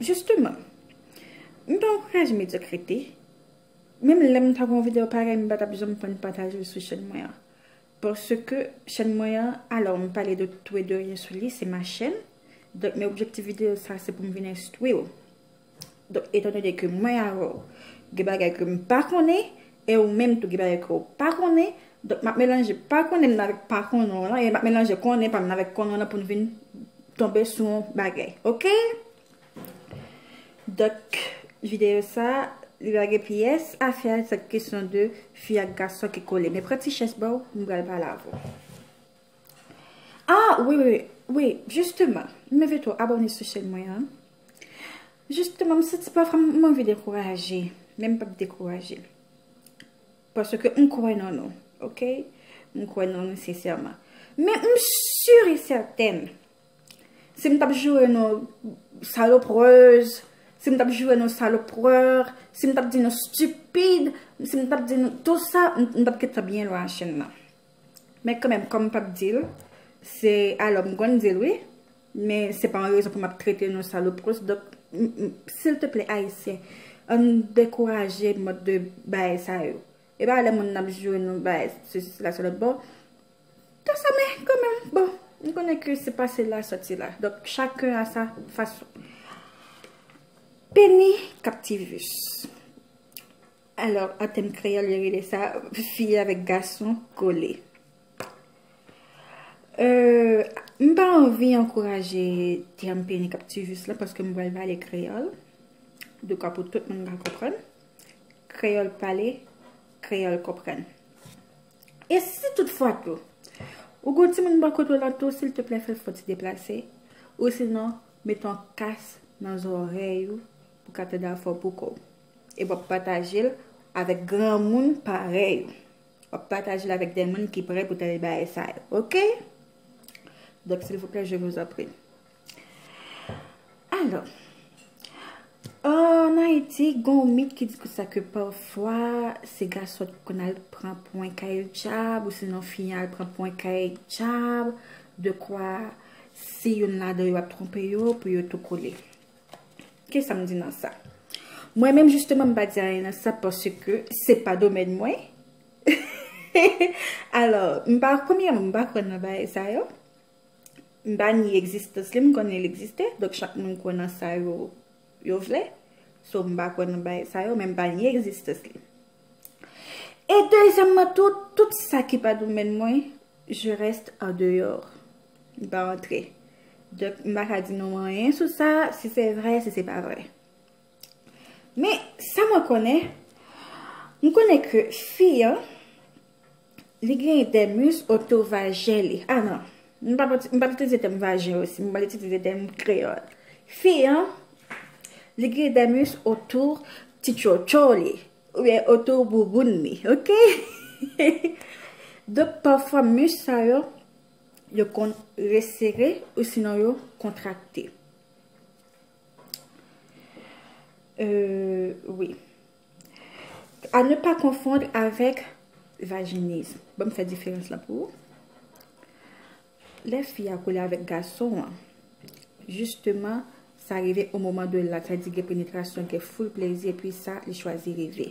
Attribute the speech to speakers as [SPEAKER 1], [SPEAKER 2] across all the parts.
[SPEAKER 1] Justement, m pa ankouraje medyokrite, menm lè m ta gon video parèy m pa tap janm pè n pataje l sou chèn mwen an. Paske chèn mwen an, alò m pale de tou e de ryen sou li, se ma chèn, donk men objektif video sa se pou m vin enstwi w. Donk etan done ke mwen avè w gen bagay ke m pa konnen, E ou menm tou gen bagay ke ou pa konnen, donk map melanje pa konnen nan avèk pa konnen w lan, e map melanje konnen pa m nan avèk konnen w lan pou n vin tonbe sou yon bagay. Ok! Donk, videyo sa, li pa gen pyès afè a, se kesyon de fi ak gason ki kole. Men pran ti chèz ba w, m pral pale avè w. Ah! Wi, wi, wi, wi, jisteman, m envite w abòne sou chèn mwen an. Justement, m santi pafwa m anvi dekouraje, men m pap dekouraje. Paske m kwè nan nou, ok? M kwè nan nou sensèman. Men m sur e sètèn, si m t ap joure nou saloprèz, si m t ap joure nou salopreur, si m t ap di nou stupide, si m t ap di nou tout sa, m t ap kite byen lwen an chenn nan. Men kanmenm kòm m p ap di l, se alò m konn di l wi, men se pa yon rezon pou m ap trete nou salopros. Donk, silteplè Ayisyen, ann dekouraje mòd de bagay sa yo. E pa lè moun ap joure nou bagay sesi sela sou lòt bon. Tout sa men kanmenm, bon, nou konnen ke se pase la soti la. Donk, chaken a sa fason. Peni kaptivus. Alò, an tèm kreyòl yo rele sa fi avèk gason kole. M pa anvi ankouraje tèm peni k ap tiye jis la paske m pral pale kreyòl dekwa pou tout moun ka konprann. Kreyòl pale, kreyòl konprann. E si tout fwa tou, ou gen yon timoun bò kote w la tou, silteplè fè l fè yon ti deplase, osinon met yon kas nan zòrèy ou pou w ka tande afè w poukò w. E wap patajel avèk granmoun parèy ou. Wap patajel avèk de moun ki prè pou tande bagay sa yo. Ok? Donk silvouplè je vous en prie. Alò. An Ayiti gon yon mit ki di kou sa ke pafwa se gason ki konn al pran pwen kay djab ou sinon fi an al pran pwen kay djab dekwa si youn ladan yo ap twonpe yo pou yo tou kole. Kisa m di nan sa? Mwen menm jisteman m pa di anyen nan sa paske se pa domèn mwen. Alò, m pa konmye m pa kwè nan bagay sa yo. M pa ni egzistans li, m konnen li egziste. Donk chak moun kwè nan sa yo vle. So m pa kwè nan bagay sa yo, men m pa ni egzistans li. E dezyèmman tou, tout sa ki pa domèn mwen, je reste en dehors. Li pa antre. Donk, m pa ka di nou anyen sou sa, si se vre, si se pa vre. Men, sa mwen konnen, m konnen ke fi an, li gen de mis oto vajen li. A nan, m pa pral itilize tèm vajen osi, m pral itilize tèm kreyòl. Fi an, li gen de mis oto ti tchotcho li, oubyen oto bouboun li, ok? Donk, pafwa mis sa yo, Yo konn resere ou sinon yo kontrakte. Euh, wi. A ne pa konfond avèk vajiniz. Bon, m fè diferans la pou ou. Lè fi a koule avèk gason an, jisteman, sa rive o moman de lak, sa di gen penetrasyon, gen foul plezi, epi sa, li chwazi rive.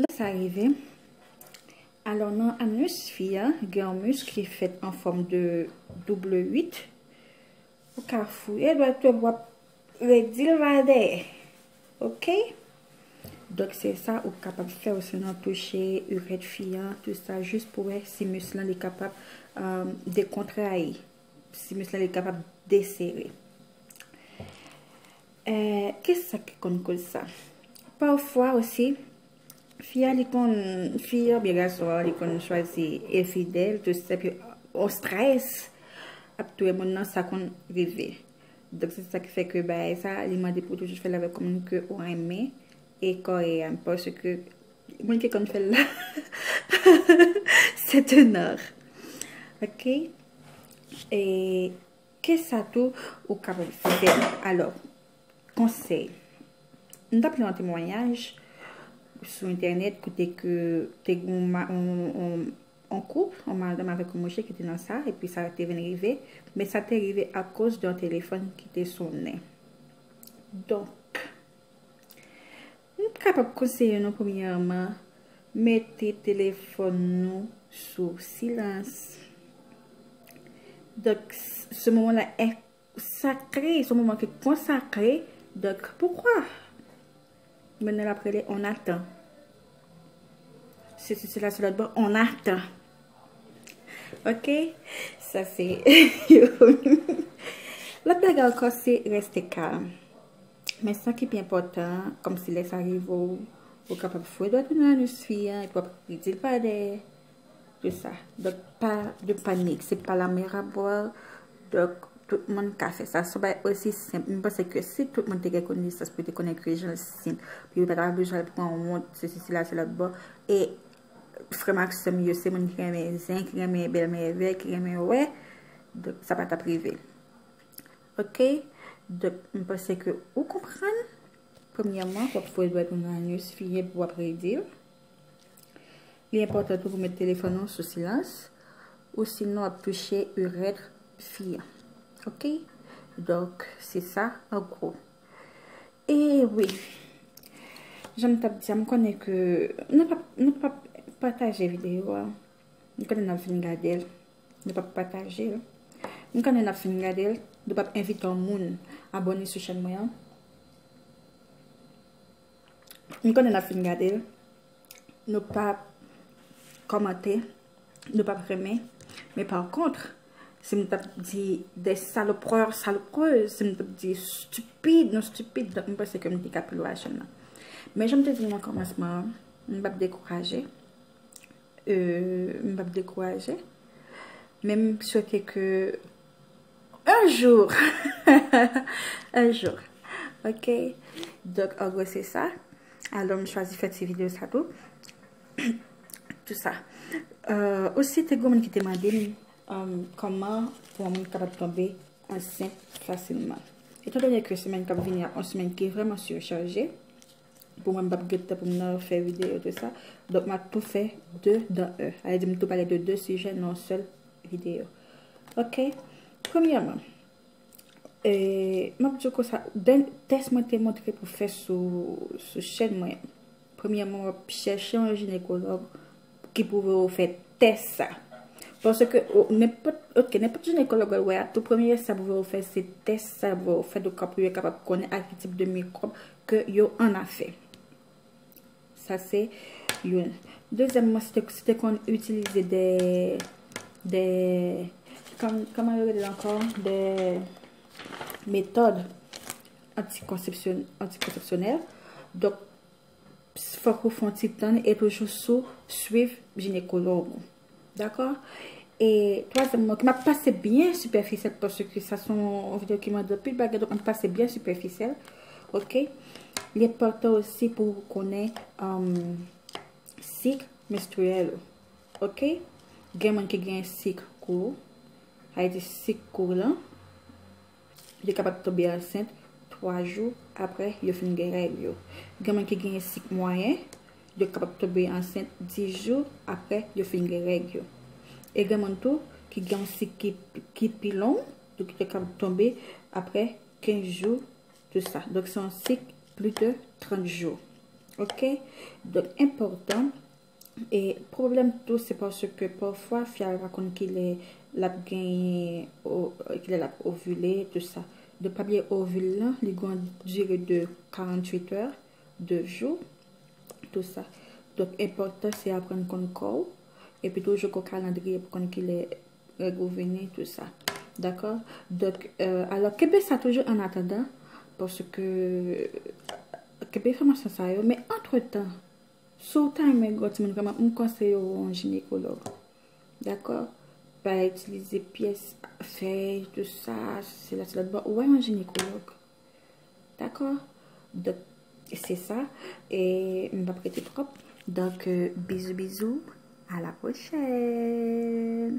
[SPEAKER 1] Lè sa rive, alò nan anus fi a gen yon musk ki fèt an fòm de double 8, ou ka fouye dwèt yo wap redil va dèyè. Ok? Donk se sa ou kapab fè ou sinon touche urèt fi a, tout sa jis pou wè si musk lan li kapab dekontrayi. Euh, Si mis la li kapab desere. Eh, ki sa ki konn koz sa? Pafwa osi, fi a li konn, fi a byen gason a li konn chwazi e fidèl, tout se pi o strès ap touye moun nan sa konn rive. Dok se sa ki fè ke bay sa, li mande pou toujou fè l avèk moun ke ou renmen e kò e an. Paske Mwen te konn fel la. C'est un art. Ok. E ke sa tou ou kapab fe. Alo. Konsey. M tap li yon temwanyaj. Sou internet kote ke te gen yon koup. Yon madanm avek yon mouche ki te nan sa. E pi sa te vin rive. Men sa te rive a koz de yon telefon ki te sonnen. Donk. Nou t kapab konseye nou premyèman mete telefòn nou sou silans. Donk se moman la è sakre, se moman ki konsakre, donk poukwa moun nan ap rele on atan. Se si se la se lòt bon on atan. Ok, sa se yon. Lòt bagay ankò se reste kalm. Men sa ki pi enpòtan an, kòm si lè sa rive w, ou kapab foure dwèt ou nan anus fi an epi w ap di l pa dèyè. Se sa. Donk pa de panik, se pa la mer à boire. Donk tout moun ka fè sa. Se yon bagay osi senp. Mwen panse ke si tout moun te gen konesans pou yo te konnen ke jan l senp, pou yo pa ta bezwen al pran wont, sesi sela se lòtbò. E frè m ak sè m yo se moun ki renmen zen, ki renmen bèl mèvèy, ki renmen wè, donk sa pa t ap rive. Ok Donk m panse ke ou konprann Premyèman wap fouye dwèt ou nan anus fi a epi wap redi l Li enpòtan tou pou met telefòn ou sou silans Ou sinon wap touche urètre fi a Ok Donk se sa an gwo E wi Jan m tap di a m konnen ke Nou pap pataje videyo a M konnen nap vin gade l Nou pap pataje l. M konnen nap fin gade l. Nou pap envite yon moun abone sou chèn mwen an. M konnen nap fin gade l. Nou pap komante. Nou pap renmen. Men pa kontre. Si m tap di de salopwa, salopwa. Si m tap di stupid, nou stupid. M pense ke m te ka pi lwa chèn nan. Men jan m te di nan komansman an. M pap dekouraje. M pap dekouraje. Men m swete ke on jou on jou ok donk an gwo se sa alò m chwazi fè ti video sa tou tout sa osi te gen moun ki te mande m kòman pou yon moun kapab tonbe ansent fasilman etan donè ke semenn kap vini a on semenn ki vreman surchaje Pou mwen m pap gen tan pou m nan fè videyo tout sa. Donk map tou fè 2 dan 1. A vle di m tou pale de 2 sijè nan yon sèl videyo. Ok. Premyèman, e map di w konsa, den tès mwen te montre pou fè sou chèn mwen. Premyèman wap chèche yon jinekològ ki pwouve ou fè tès sa. Paske nenpòt, ok, nenpòt jinekològ wè wè a, tou premye sa pwouve ou fè se tès sa yo pwouve ou fè pou yo kapab konnen ak ki tip de mikwòb ke yo annafè. Sa se youn. Dezyèmman, si te, si te konn itilize de, de, kòman yo rele l ankò? De metòd antikonsepsyonèl. Donk, Pss fòk ou fon ti tann e toujou sou swiv jinekològ ou. Dakò? E twazyèm nan, map pase byen sipèfisyèl paske sa son videyo ki mande anpil bagay donk map pase byen sipèfisyèl. Ok? Li enpòtan osi pou ou konnen sik menstriyèl ou. Ok? Gen moun ki gen sik kou, sa vle di sik kou lan. Yo kapab tonbe ansent 3 jou apre yo fin gen règ yo. Gen moun ki genyen sik mwayen, yo kapab tonbe ansent 10 jou apre yo fin gen règ yo. E gen moun tou ki gen yon sik ki pi long, donk yo kapab tonbe apre 15 jou de sa. Donk se yon sik plis de 30 jou. Ok? Donk enpòtan E pwoblèm tou se paske pafwa fi a pa konn kilè lap genyen kilè lap ovile tout sa. Donk pa bliye ovil lan li gon dire de 48 è, 2 jou tout sa. Donk enpòtan se aprann konn kò ou epi toujou gon kalandriye pou konn kilè règ ou vini tout sa. Dakò? Donk alò kenbe sa toujou an atandan paske kenbe enfòmasyon sa yo men antretan Si w ta renmen gwo timoun vreman, m konseye w wè yon jinekològ. Dakò? Pa itilize pyès, fèy, tout sa, se la se lòt bò. Wè yon jinekològ. Dakò? Dòk, se sa. E, m pa p rete twòp. Dòk, bizou bizou. A la pwochèn.